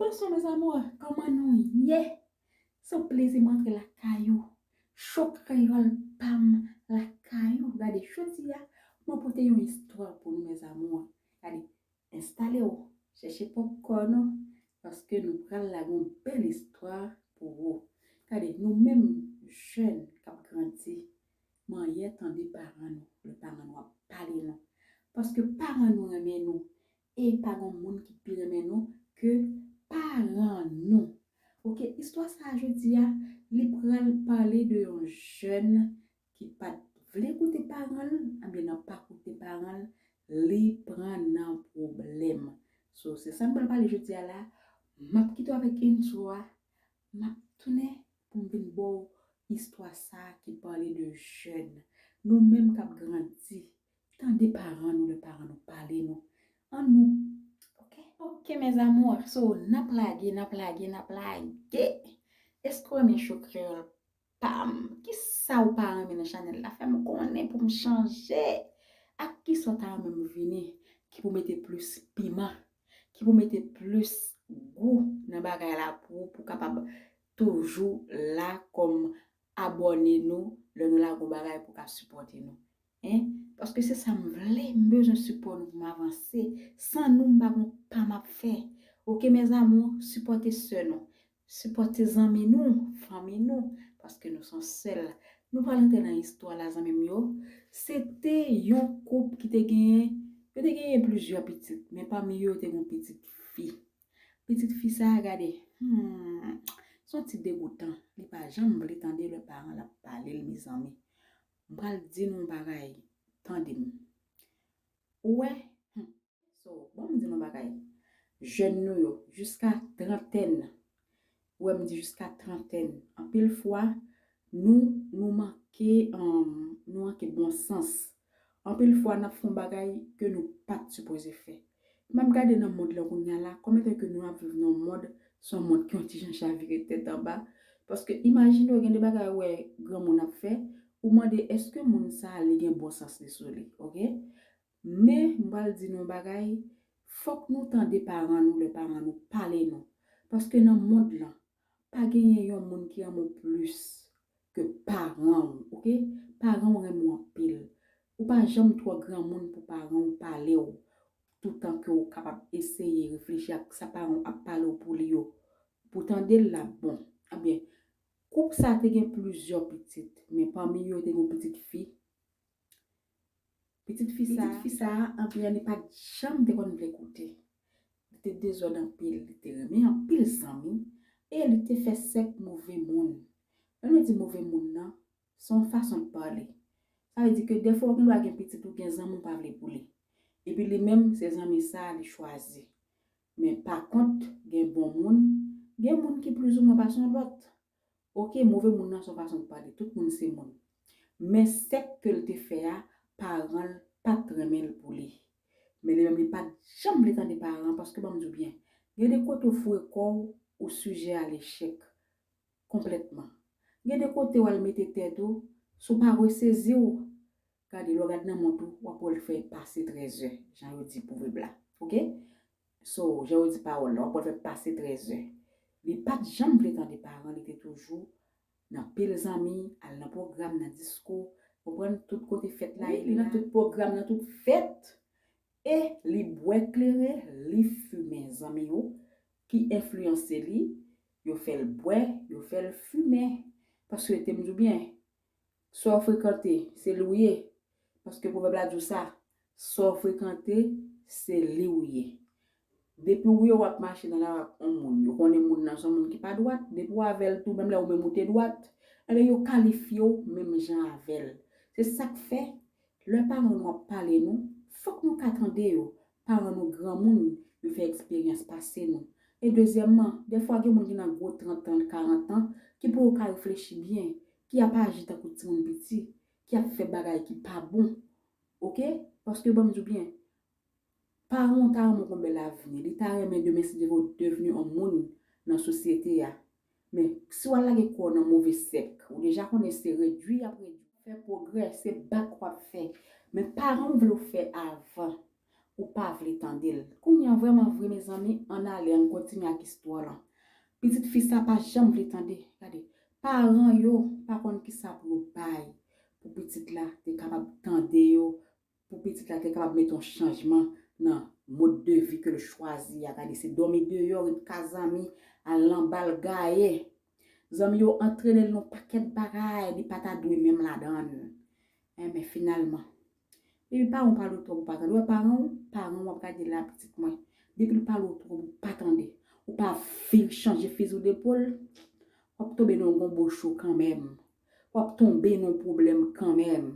Bonsoir mes amours koman nou ye se yon plezi mwen antre lakay ou show kreyol pam lakay ou gade jodia mwen pote yon istwa pou nou mes amours gade enstale ou chèche popcorn ou paske nou pral lage yon bèl istwa pou ou gade nou menm jèn kap grandi manyè tande paran nou lè paran nou ap pale nou paske paran nou renmen nou E pa gon moun ki pi renmen nou ke paran nou. Ok istwa sa a jodi a li pral pale de yon jèn ki pat vle koute paran l ebyen nan pa koute paran l li pran nan pwoblèm. So se sa m pral pale jodi a la a m ap kite w avèk intro a m ap tounen pou m vin ba w istwa sa a ki pale de jèn nou menm k ap grandi Tande paran nou lè paran nou pale nou an nou ok. Ok mes amours so nap lage nap lage nap lage eske ou renmen show kreyol pam kisa ou pa renmen nan chanel la fem konnen poum chanje ak kisa ou ta renmen m vini ki pou mete plus piman ki pou mete plus gou nan bagay la pou ou pou kapab toujou la kom abone nou lè nou lage yon bagay pou ka sipote nou Hein paske se sa m vle m bezwen sipò nou pou m avanse san nou m pa gon pa m ap fè ok mes amour sipòte sè nou sipòte zanmi nou fanmi nou paske nou son sèl nou pral antre nan istwa la zanmi m yo se te yon koup ki te genyen yo te genyen plizyè pitit men pami yo yo te gon pitit fi pitit fi sa gade humm son ti degoutan li pa janm vle tande lè paran l ap pale l mezanmi M pral di nou yon bagay tande m ou wè humm so banm di nou yon bagay jèn nou yo jiska trantèn ou wè m di jiska trantèn anpil fwa nou nou manke humm nou manke bon sans anpil fwa nap fè yon bagay ke nou pat sipoze fè Map gade nan mond lan kounya la kòm etan ke nou ap viv nan yon mond se yon mond ki yon ti jan chavire tèt anba paske imajine w gen de bagay ou wè granmoun ap fè ou mande eske moun sa li gen bon sans li sou li ok men m pral di nou yon bagay fòk nou tande paran nou lè paran nou pale nou paske nan mond lan Pa genyen yon moun ki renmen w plis ke paran w ok paran w renmen w anpil ou pa janm twò granmoun pou paran w pale w toutan ke w kapab eseye reflechi ak sa paran w ap pale w pou li yo pou w tande l la bon ebyen koup sa te gen plizyè pitit men pami yo te gen yon pitit fi Pitit fi sa, pitit fi sa a anpil an li pat janm te konn vle koute. Li te dezòd anpil, li te renmen anpil zanmi e li te fè sèk move moun. Lè nou di move moun nan, se yon fason l pale. Sa vle di ke dèfwa ou gen dwa gen pitit ou gen zanmi ou pa vle pou li. Epi li menm se zanmi sa a li chwazi. Men pa kont gen bon moun, gen moun ki plizoumwen pa son lòt. Ok move moun nan son fason pou pale tout moun se moun men sèk kel te fè a paranl pat renmenl pou li men li menm li pat janm vle tande paran paske banm diw byen gen de kote ou foure kòw ou sijè a lechèk konplètman gen de kote wal mete tèt ou si w pa reseziw Gade lè w gad nan mont ou wap wè l fè pase 13 zè jan yo di pwovèb la ok so jan yo di pawòl la wap wè l fè pase 13 zè li pat janm vle tande paran li te toujou nan pil zanmi al nan pwogram nan diskou konprann tout kote fèt la ye li nan tout pwogram nan tout fèt e li bwè klere li fimen zanmi yo ki enfliyanse li yo fè l bwè yo fè l fimen paske tem di w byen Sa w frekante, se li w ye. Paske pwovèb la di w sa. Sa w frekante, se li w ye. Depi w wè w ap mache nan lari ak yon moun, yo konnen moun nan se yon moun ki pa dwat, depi w avè l tou menm lè ou menm ou te dwat, enben yo kalifye w menm jan avè l. Se sa k fè, Lè paran nou ap pale nou, fòk nou ka tande yo, paran nou granmoun, yo fè eksperyans pase nou. E dezyèmman, dèfwa gen moun ki nan gwo trantan, karantan, ki pou yo ka reflechi byen, ki ap aji tankou timoun piti, ki ap fè bagay ki pa bon. Ok, paske ban m di w byen, Paran w ta renmen w gon bèl avni, li ta renmen demen si demen w devni yon moun nan sosyete a. Men, si w al lage kò w nan move sèk, ou deja konnen se redui y ap redui w. Fè pwogrè, se bak w ap fè. Men paran w vle w fè avan, ou pa vle tande l. Kounye an, vrèman vre mezanmi, ann ale, ann kontinye ak istwa lan. Pitit fi sa pa janm vle tande. Gade, paran yo pa konn kisa pou yo bay pou pitit la te kapab tande yo Pou pitit la te kapab mete yon chanjman nan mode de vie ke l chwazi a, gade se dòmi deyò, ret ka zanmi, al nan bal, gaye. Zanmi yo antrene l nan yon pakèt bagay li pa ta dwe menm ladan l. Eh men finalman. Depi paran w pale w twòp ou pa tande. Ou wè paran w, paran w wap gade la pitit mwen. Depi l pale w twòp ou pa tande. Ou pa vin chanje fizi w depòl, wap tonbe nan yon gonbo cho kanmenm. Wap tonbe nan pwoblèm kanmenm,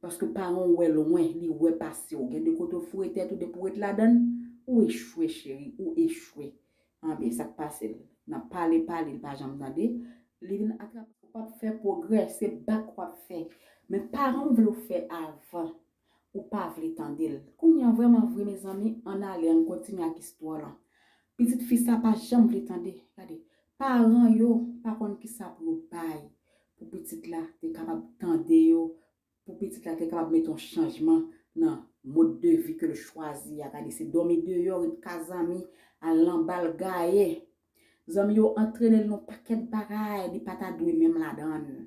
paske paran w wè lwen, li wè pase w, gen de kote w foure tèt ou depi w ret ladann, ou echwe cheri, ou echwe. Anben, sak pase l? Nan pale pale li pa janm tande, li vin atrape. Ou pap fè pwogrè, se bak wap fè. Men paran w vle w fè avan. Ou pa vle tande l. Kounya vrèman vre mezanmi ann ale ann kontinye ak istwa lan. Pitit fi sa pa janm vle tande. Gade, paran yo pa konn kisa pou yo bay pou pitit la te kapab tande yo, pou pitit la te kapab mete yon chanjman nan mode de vie ke l chwazi a. Gade se dòmi deyò, ret ka zanmi, al lan bal gaye. Zanmi yo antrene l nan yon pakèt bagay li pa ta dwe menm ladan l.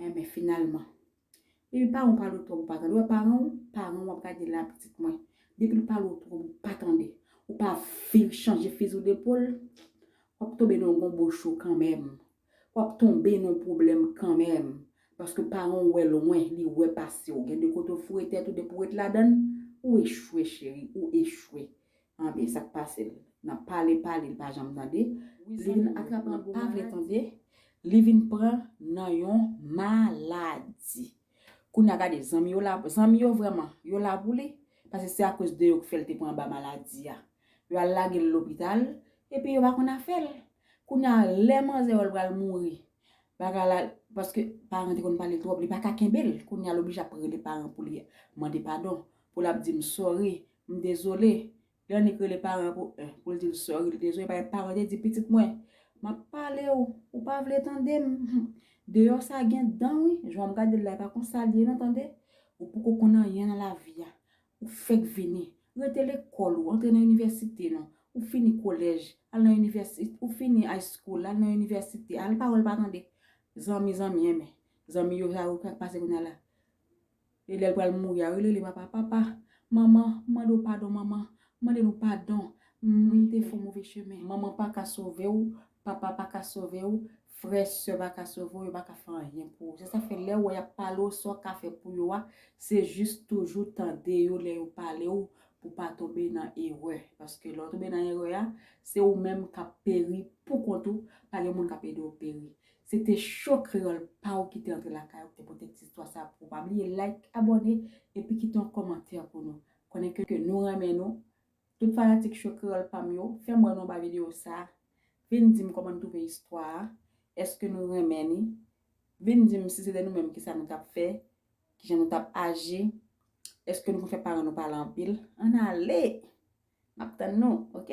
Enben finalman. Depi paran w pale w twòp ou pa tande. Ou wè paran w, paran w ap gade la pitit mwen. Depi l pale w twòp ou pa tande. Ou pa viv chanje fizi w depòl, w ap tonbe nan yon gonbo cho kanmèm. W ap tonbe nan yon pwoblèm kanmèm. Paske paran w wè lwen, li wè pase w. Gen de kote w foure tèt ou depi w ret ladan l, ou echwe cheri, ou echwe. Anben sak pasel nan pale pale li pa janm tande li vin atrape nan pa vle tande li vin pran nan yon maladi kounya gade zanmi yo la zanmi yo vreman yo la pou li pase se akoz de yo k fèl te pran anba maladi a yo al lagel lopital epi yo pa konn afèl kounya lè manzè wèl pral mouri bagay la paske paran te konn pale twòp li paka kenbel kounya l oblije ap rele paran pou li mande padon pou lap di m sorry M dezole, lè annik rele paran an pou un, pou l di l sorry, li dezole bay paran, li di pitit mwen, m ap pale w, ou pa vle tande m, hum, deyò sa gen dan wi, jan w gade l la e pa konsa l ye non tande, ou poko konn anyen nan lavi a, ou fèk vini, rete lekòl ou, antre nan inivèsite non, ou fini kolèj, al nan inivèsi, ou fini high school, al nan inivèsite, al pawòl pa tande, zanmi zanmi enben, zanmi yo sa yo k ap pase kounya la, E lèl pral mouri a yo rele papa papa manman mande w padon manman mande nou padon m te fon move chemen. Manman paka sove w papa paka sove w frè sè paka sove w yo paka fè anyen pou ou se sa fè lèw wè yap pale w sa w ka fè pou yo a se jis toujou tande yo lè yo pale w pou pa tonbe nan erè paske lè w tonbe nan erè a se ou menm kap peri pou kont ou pa gen moun kap ede w peri Se te show kreyol pa ou ki te antre lakay ou ki te pote ti istwa sa pou ou pa bliye like abone epi kite yon komantè pou nou konnen ke nou renmen nou tout fanatik show kreyol pam yo fèm wè nou anba video sa vin dim koman nou twouve istwa a eske nou renmen li vin dim si se te nou menm kisa nou tap fè kijan nou tap aji eske nou konn fè paran nou pale anpil ann ale map tann nou ok.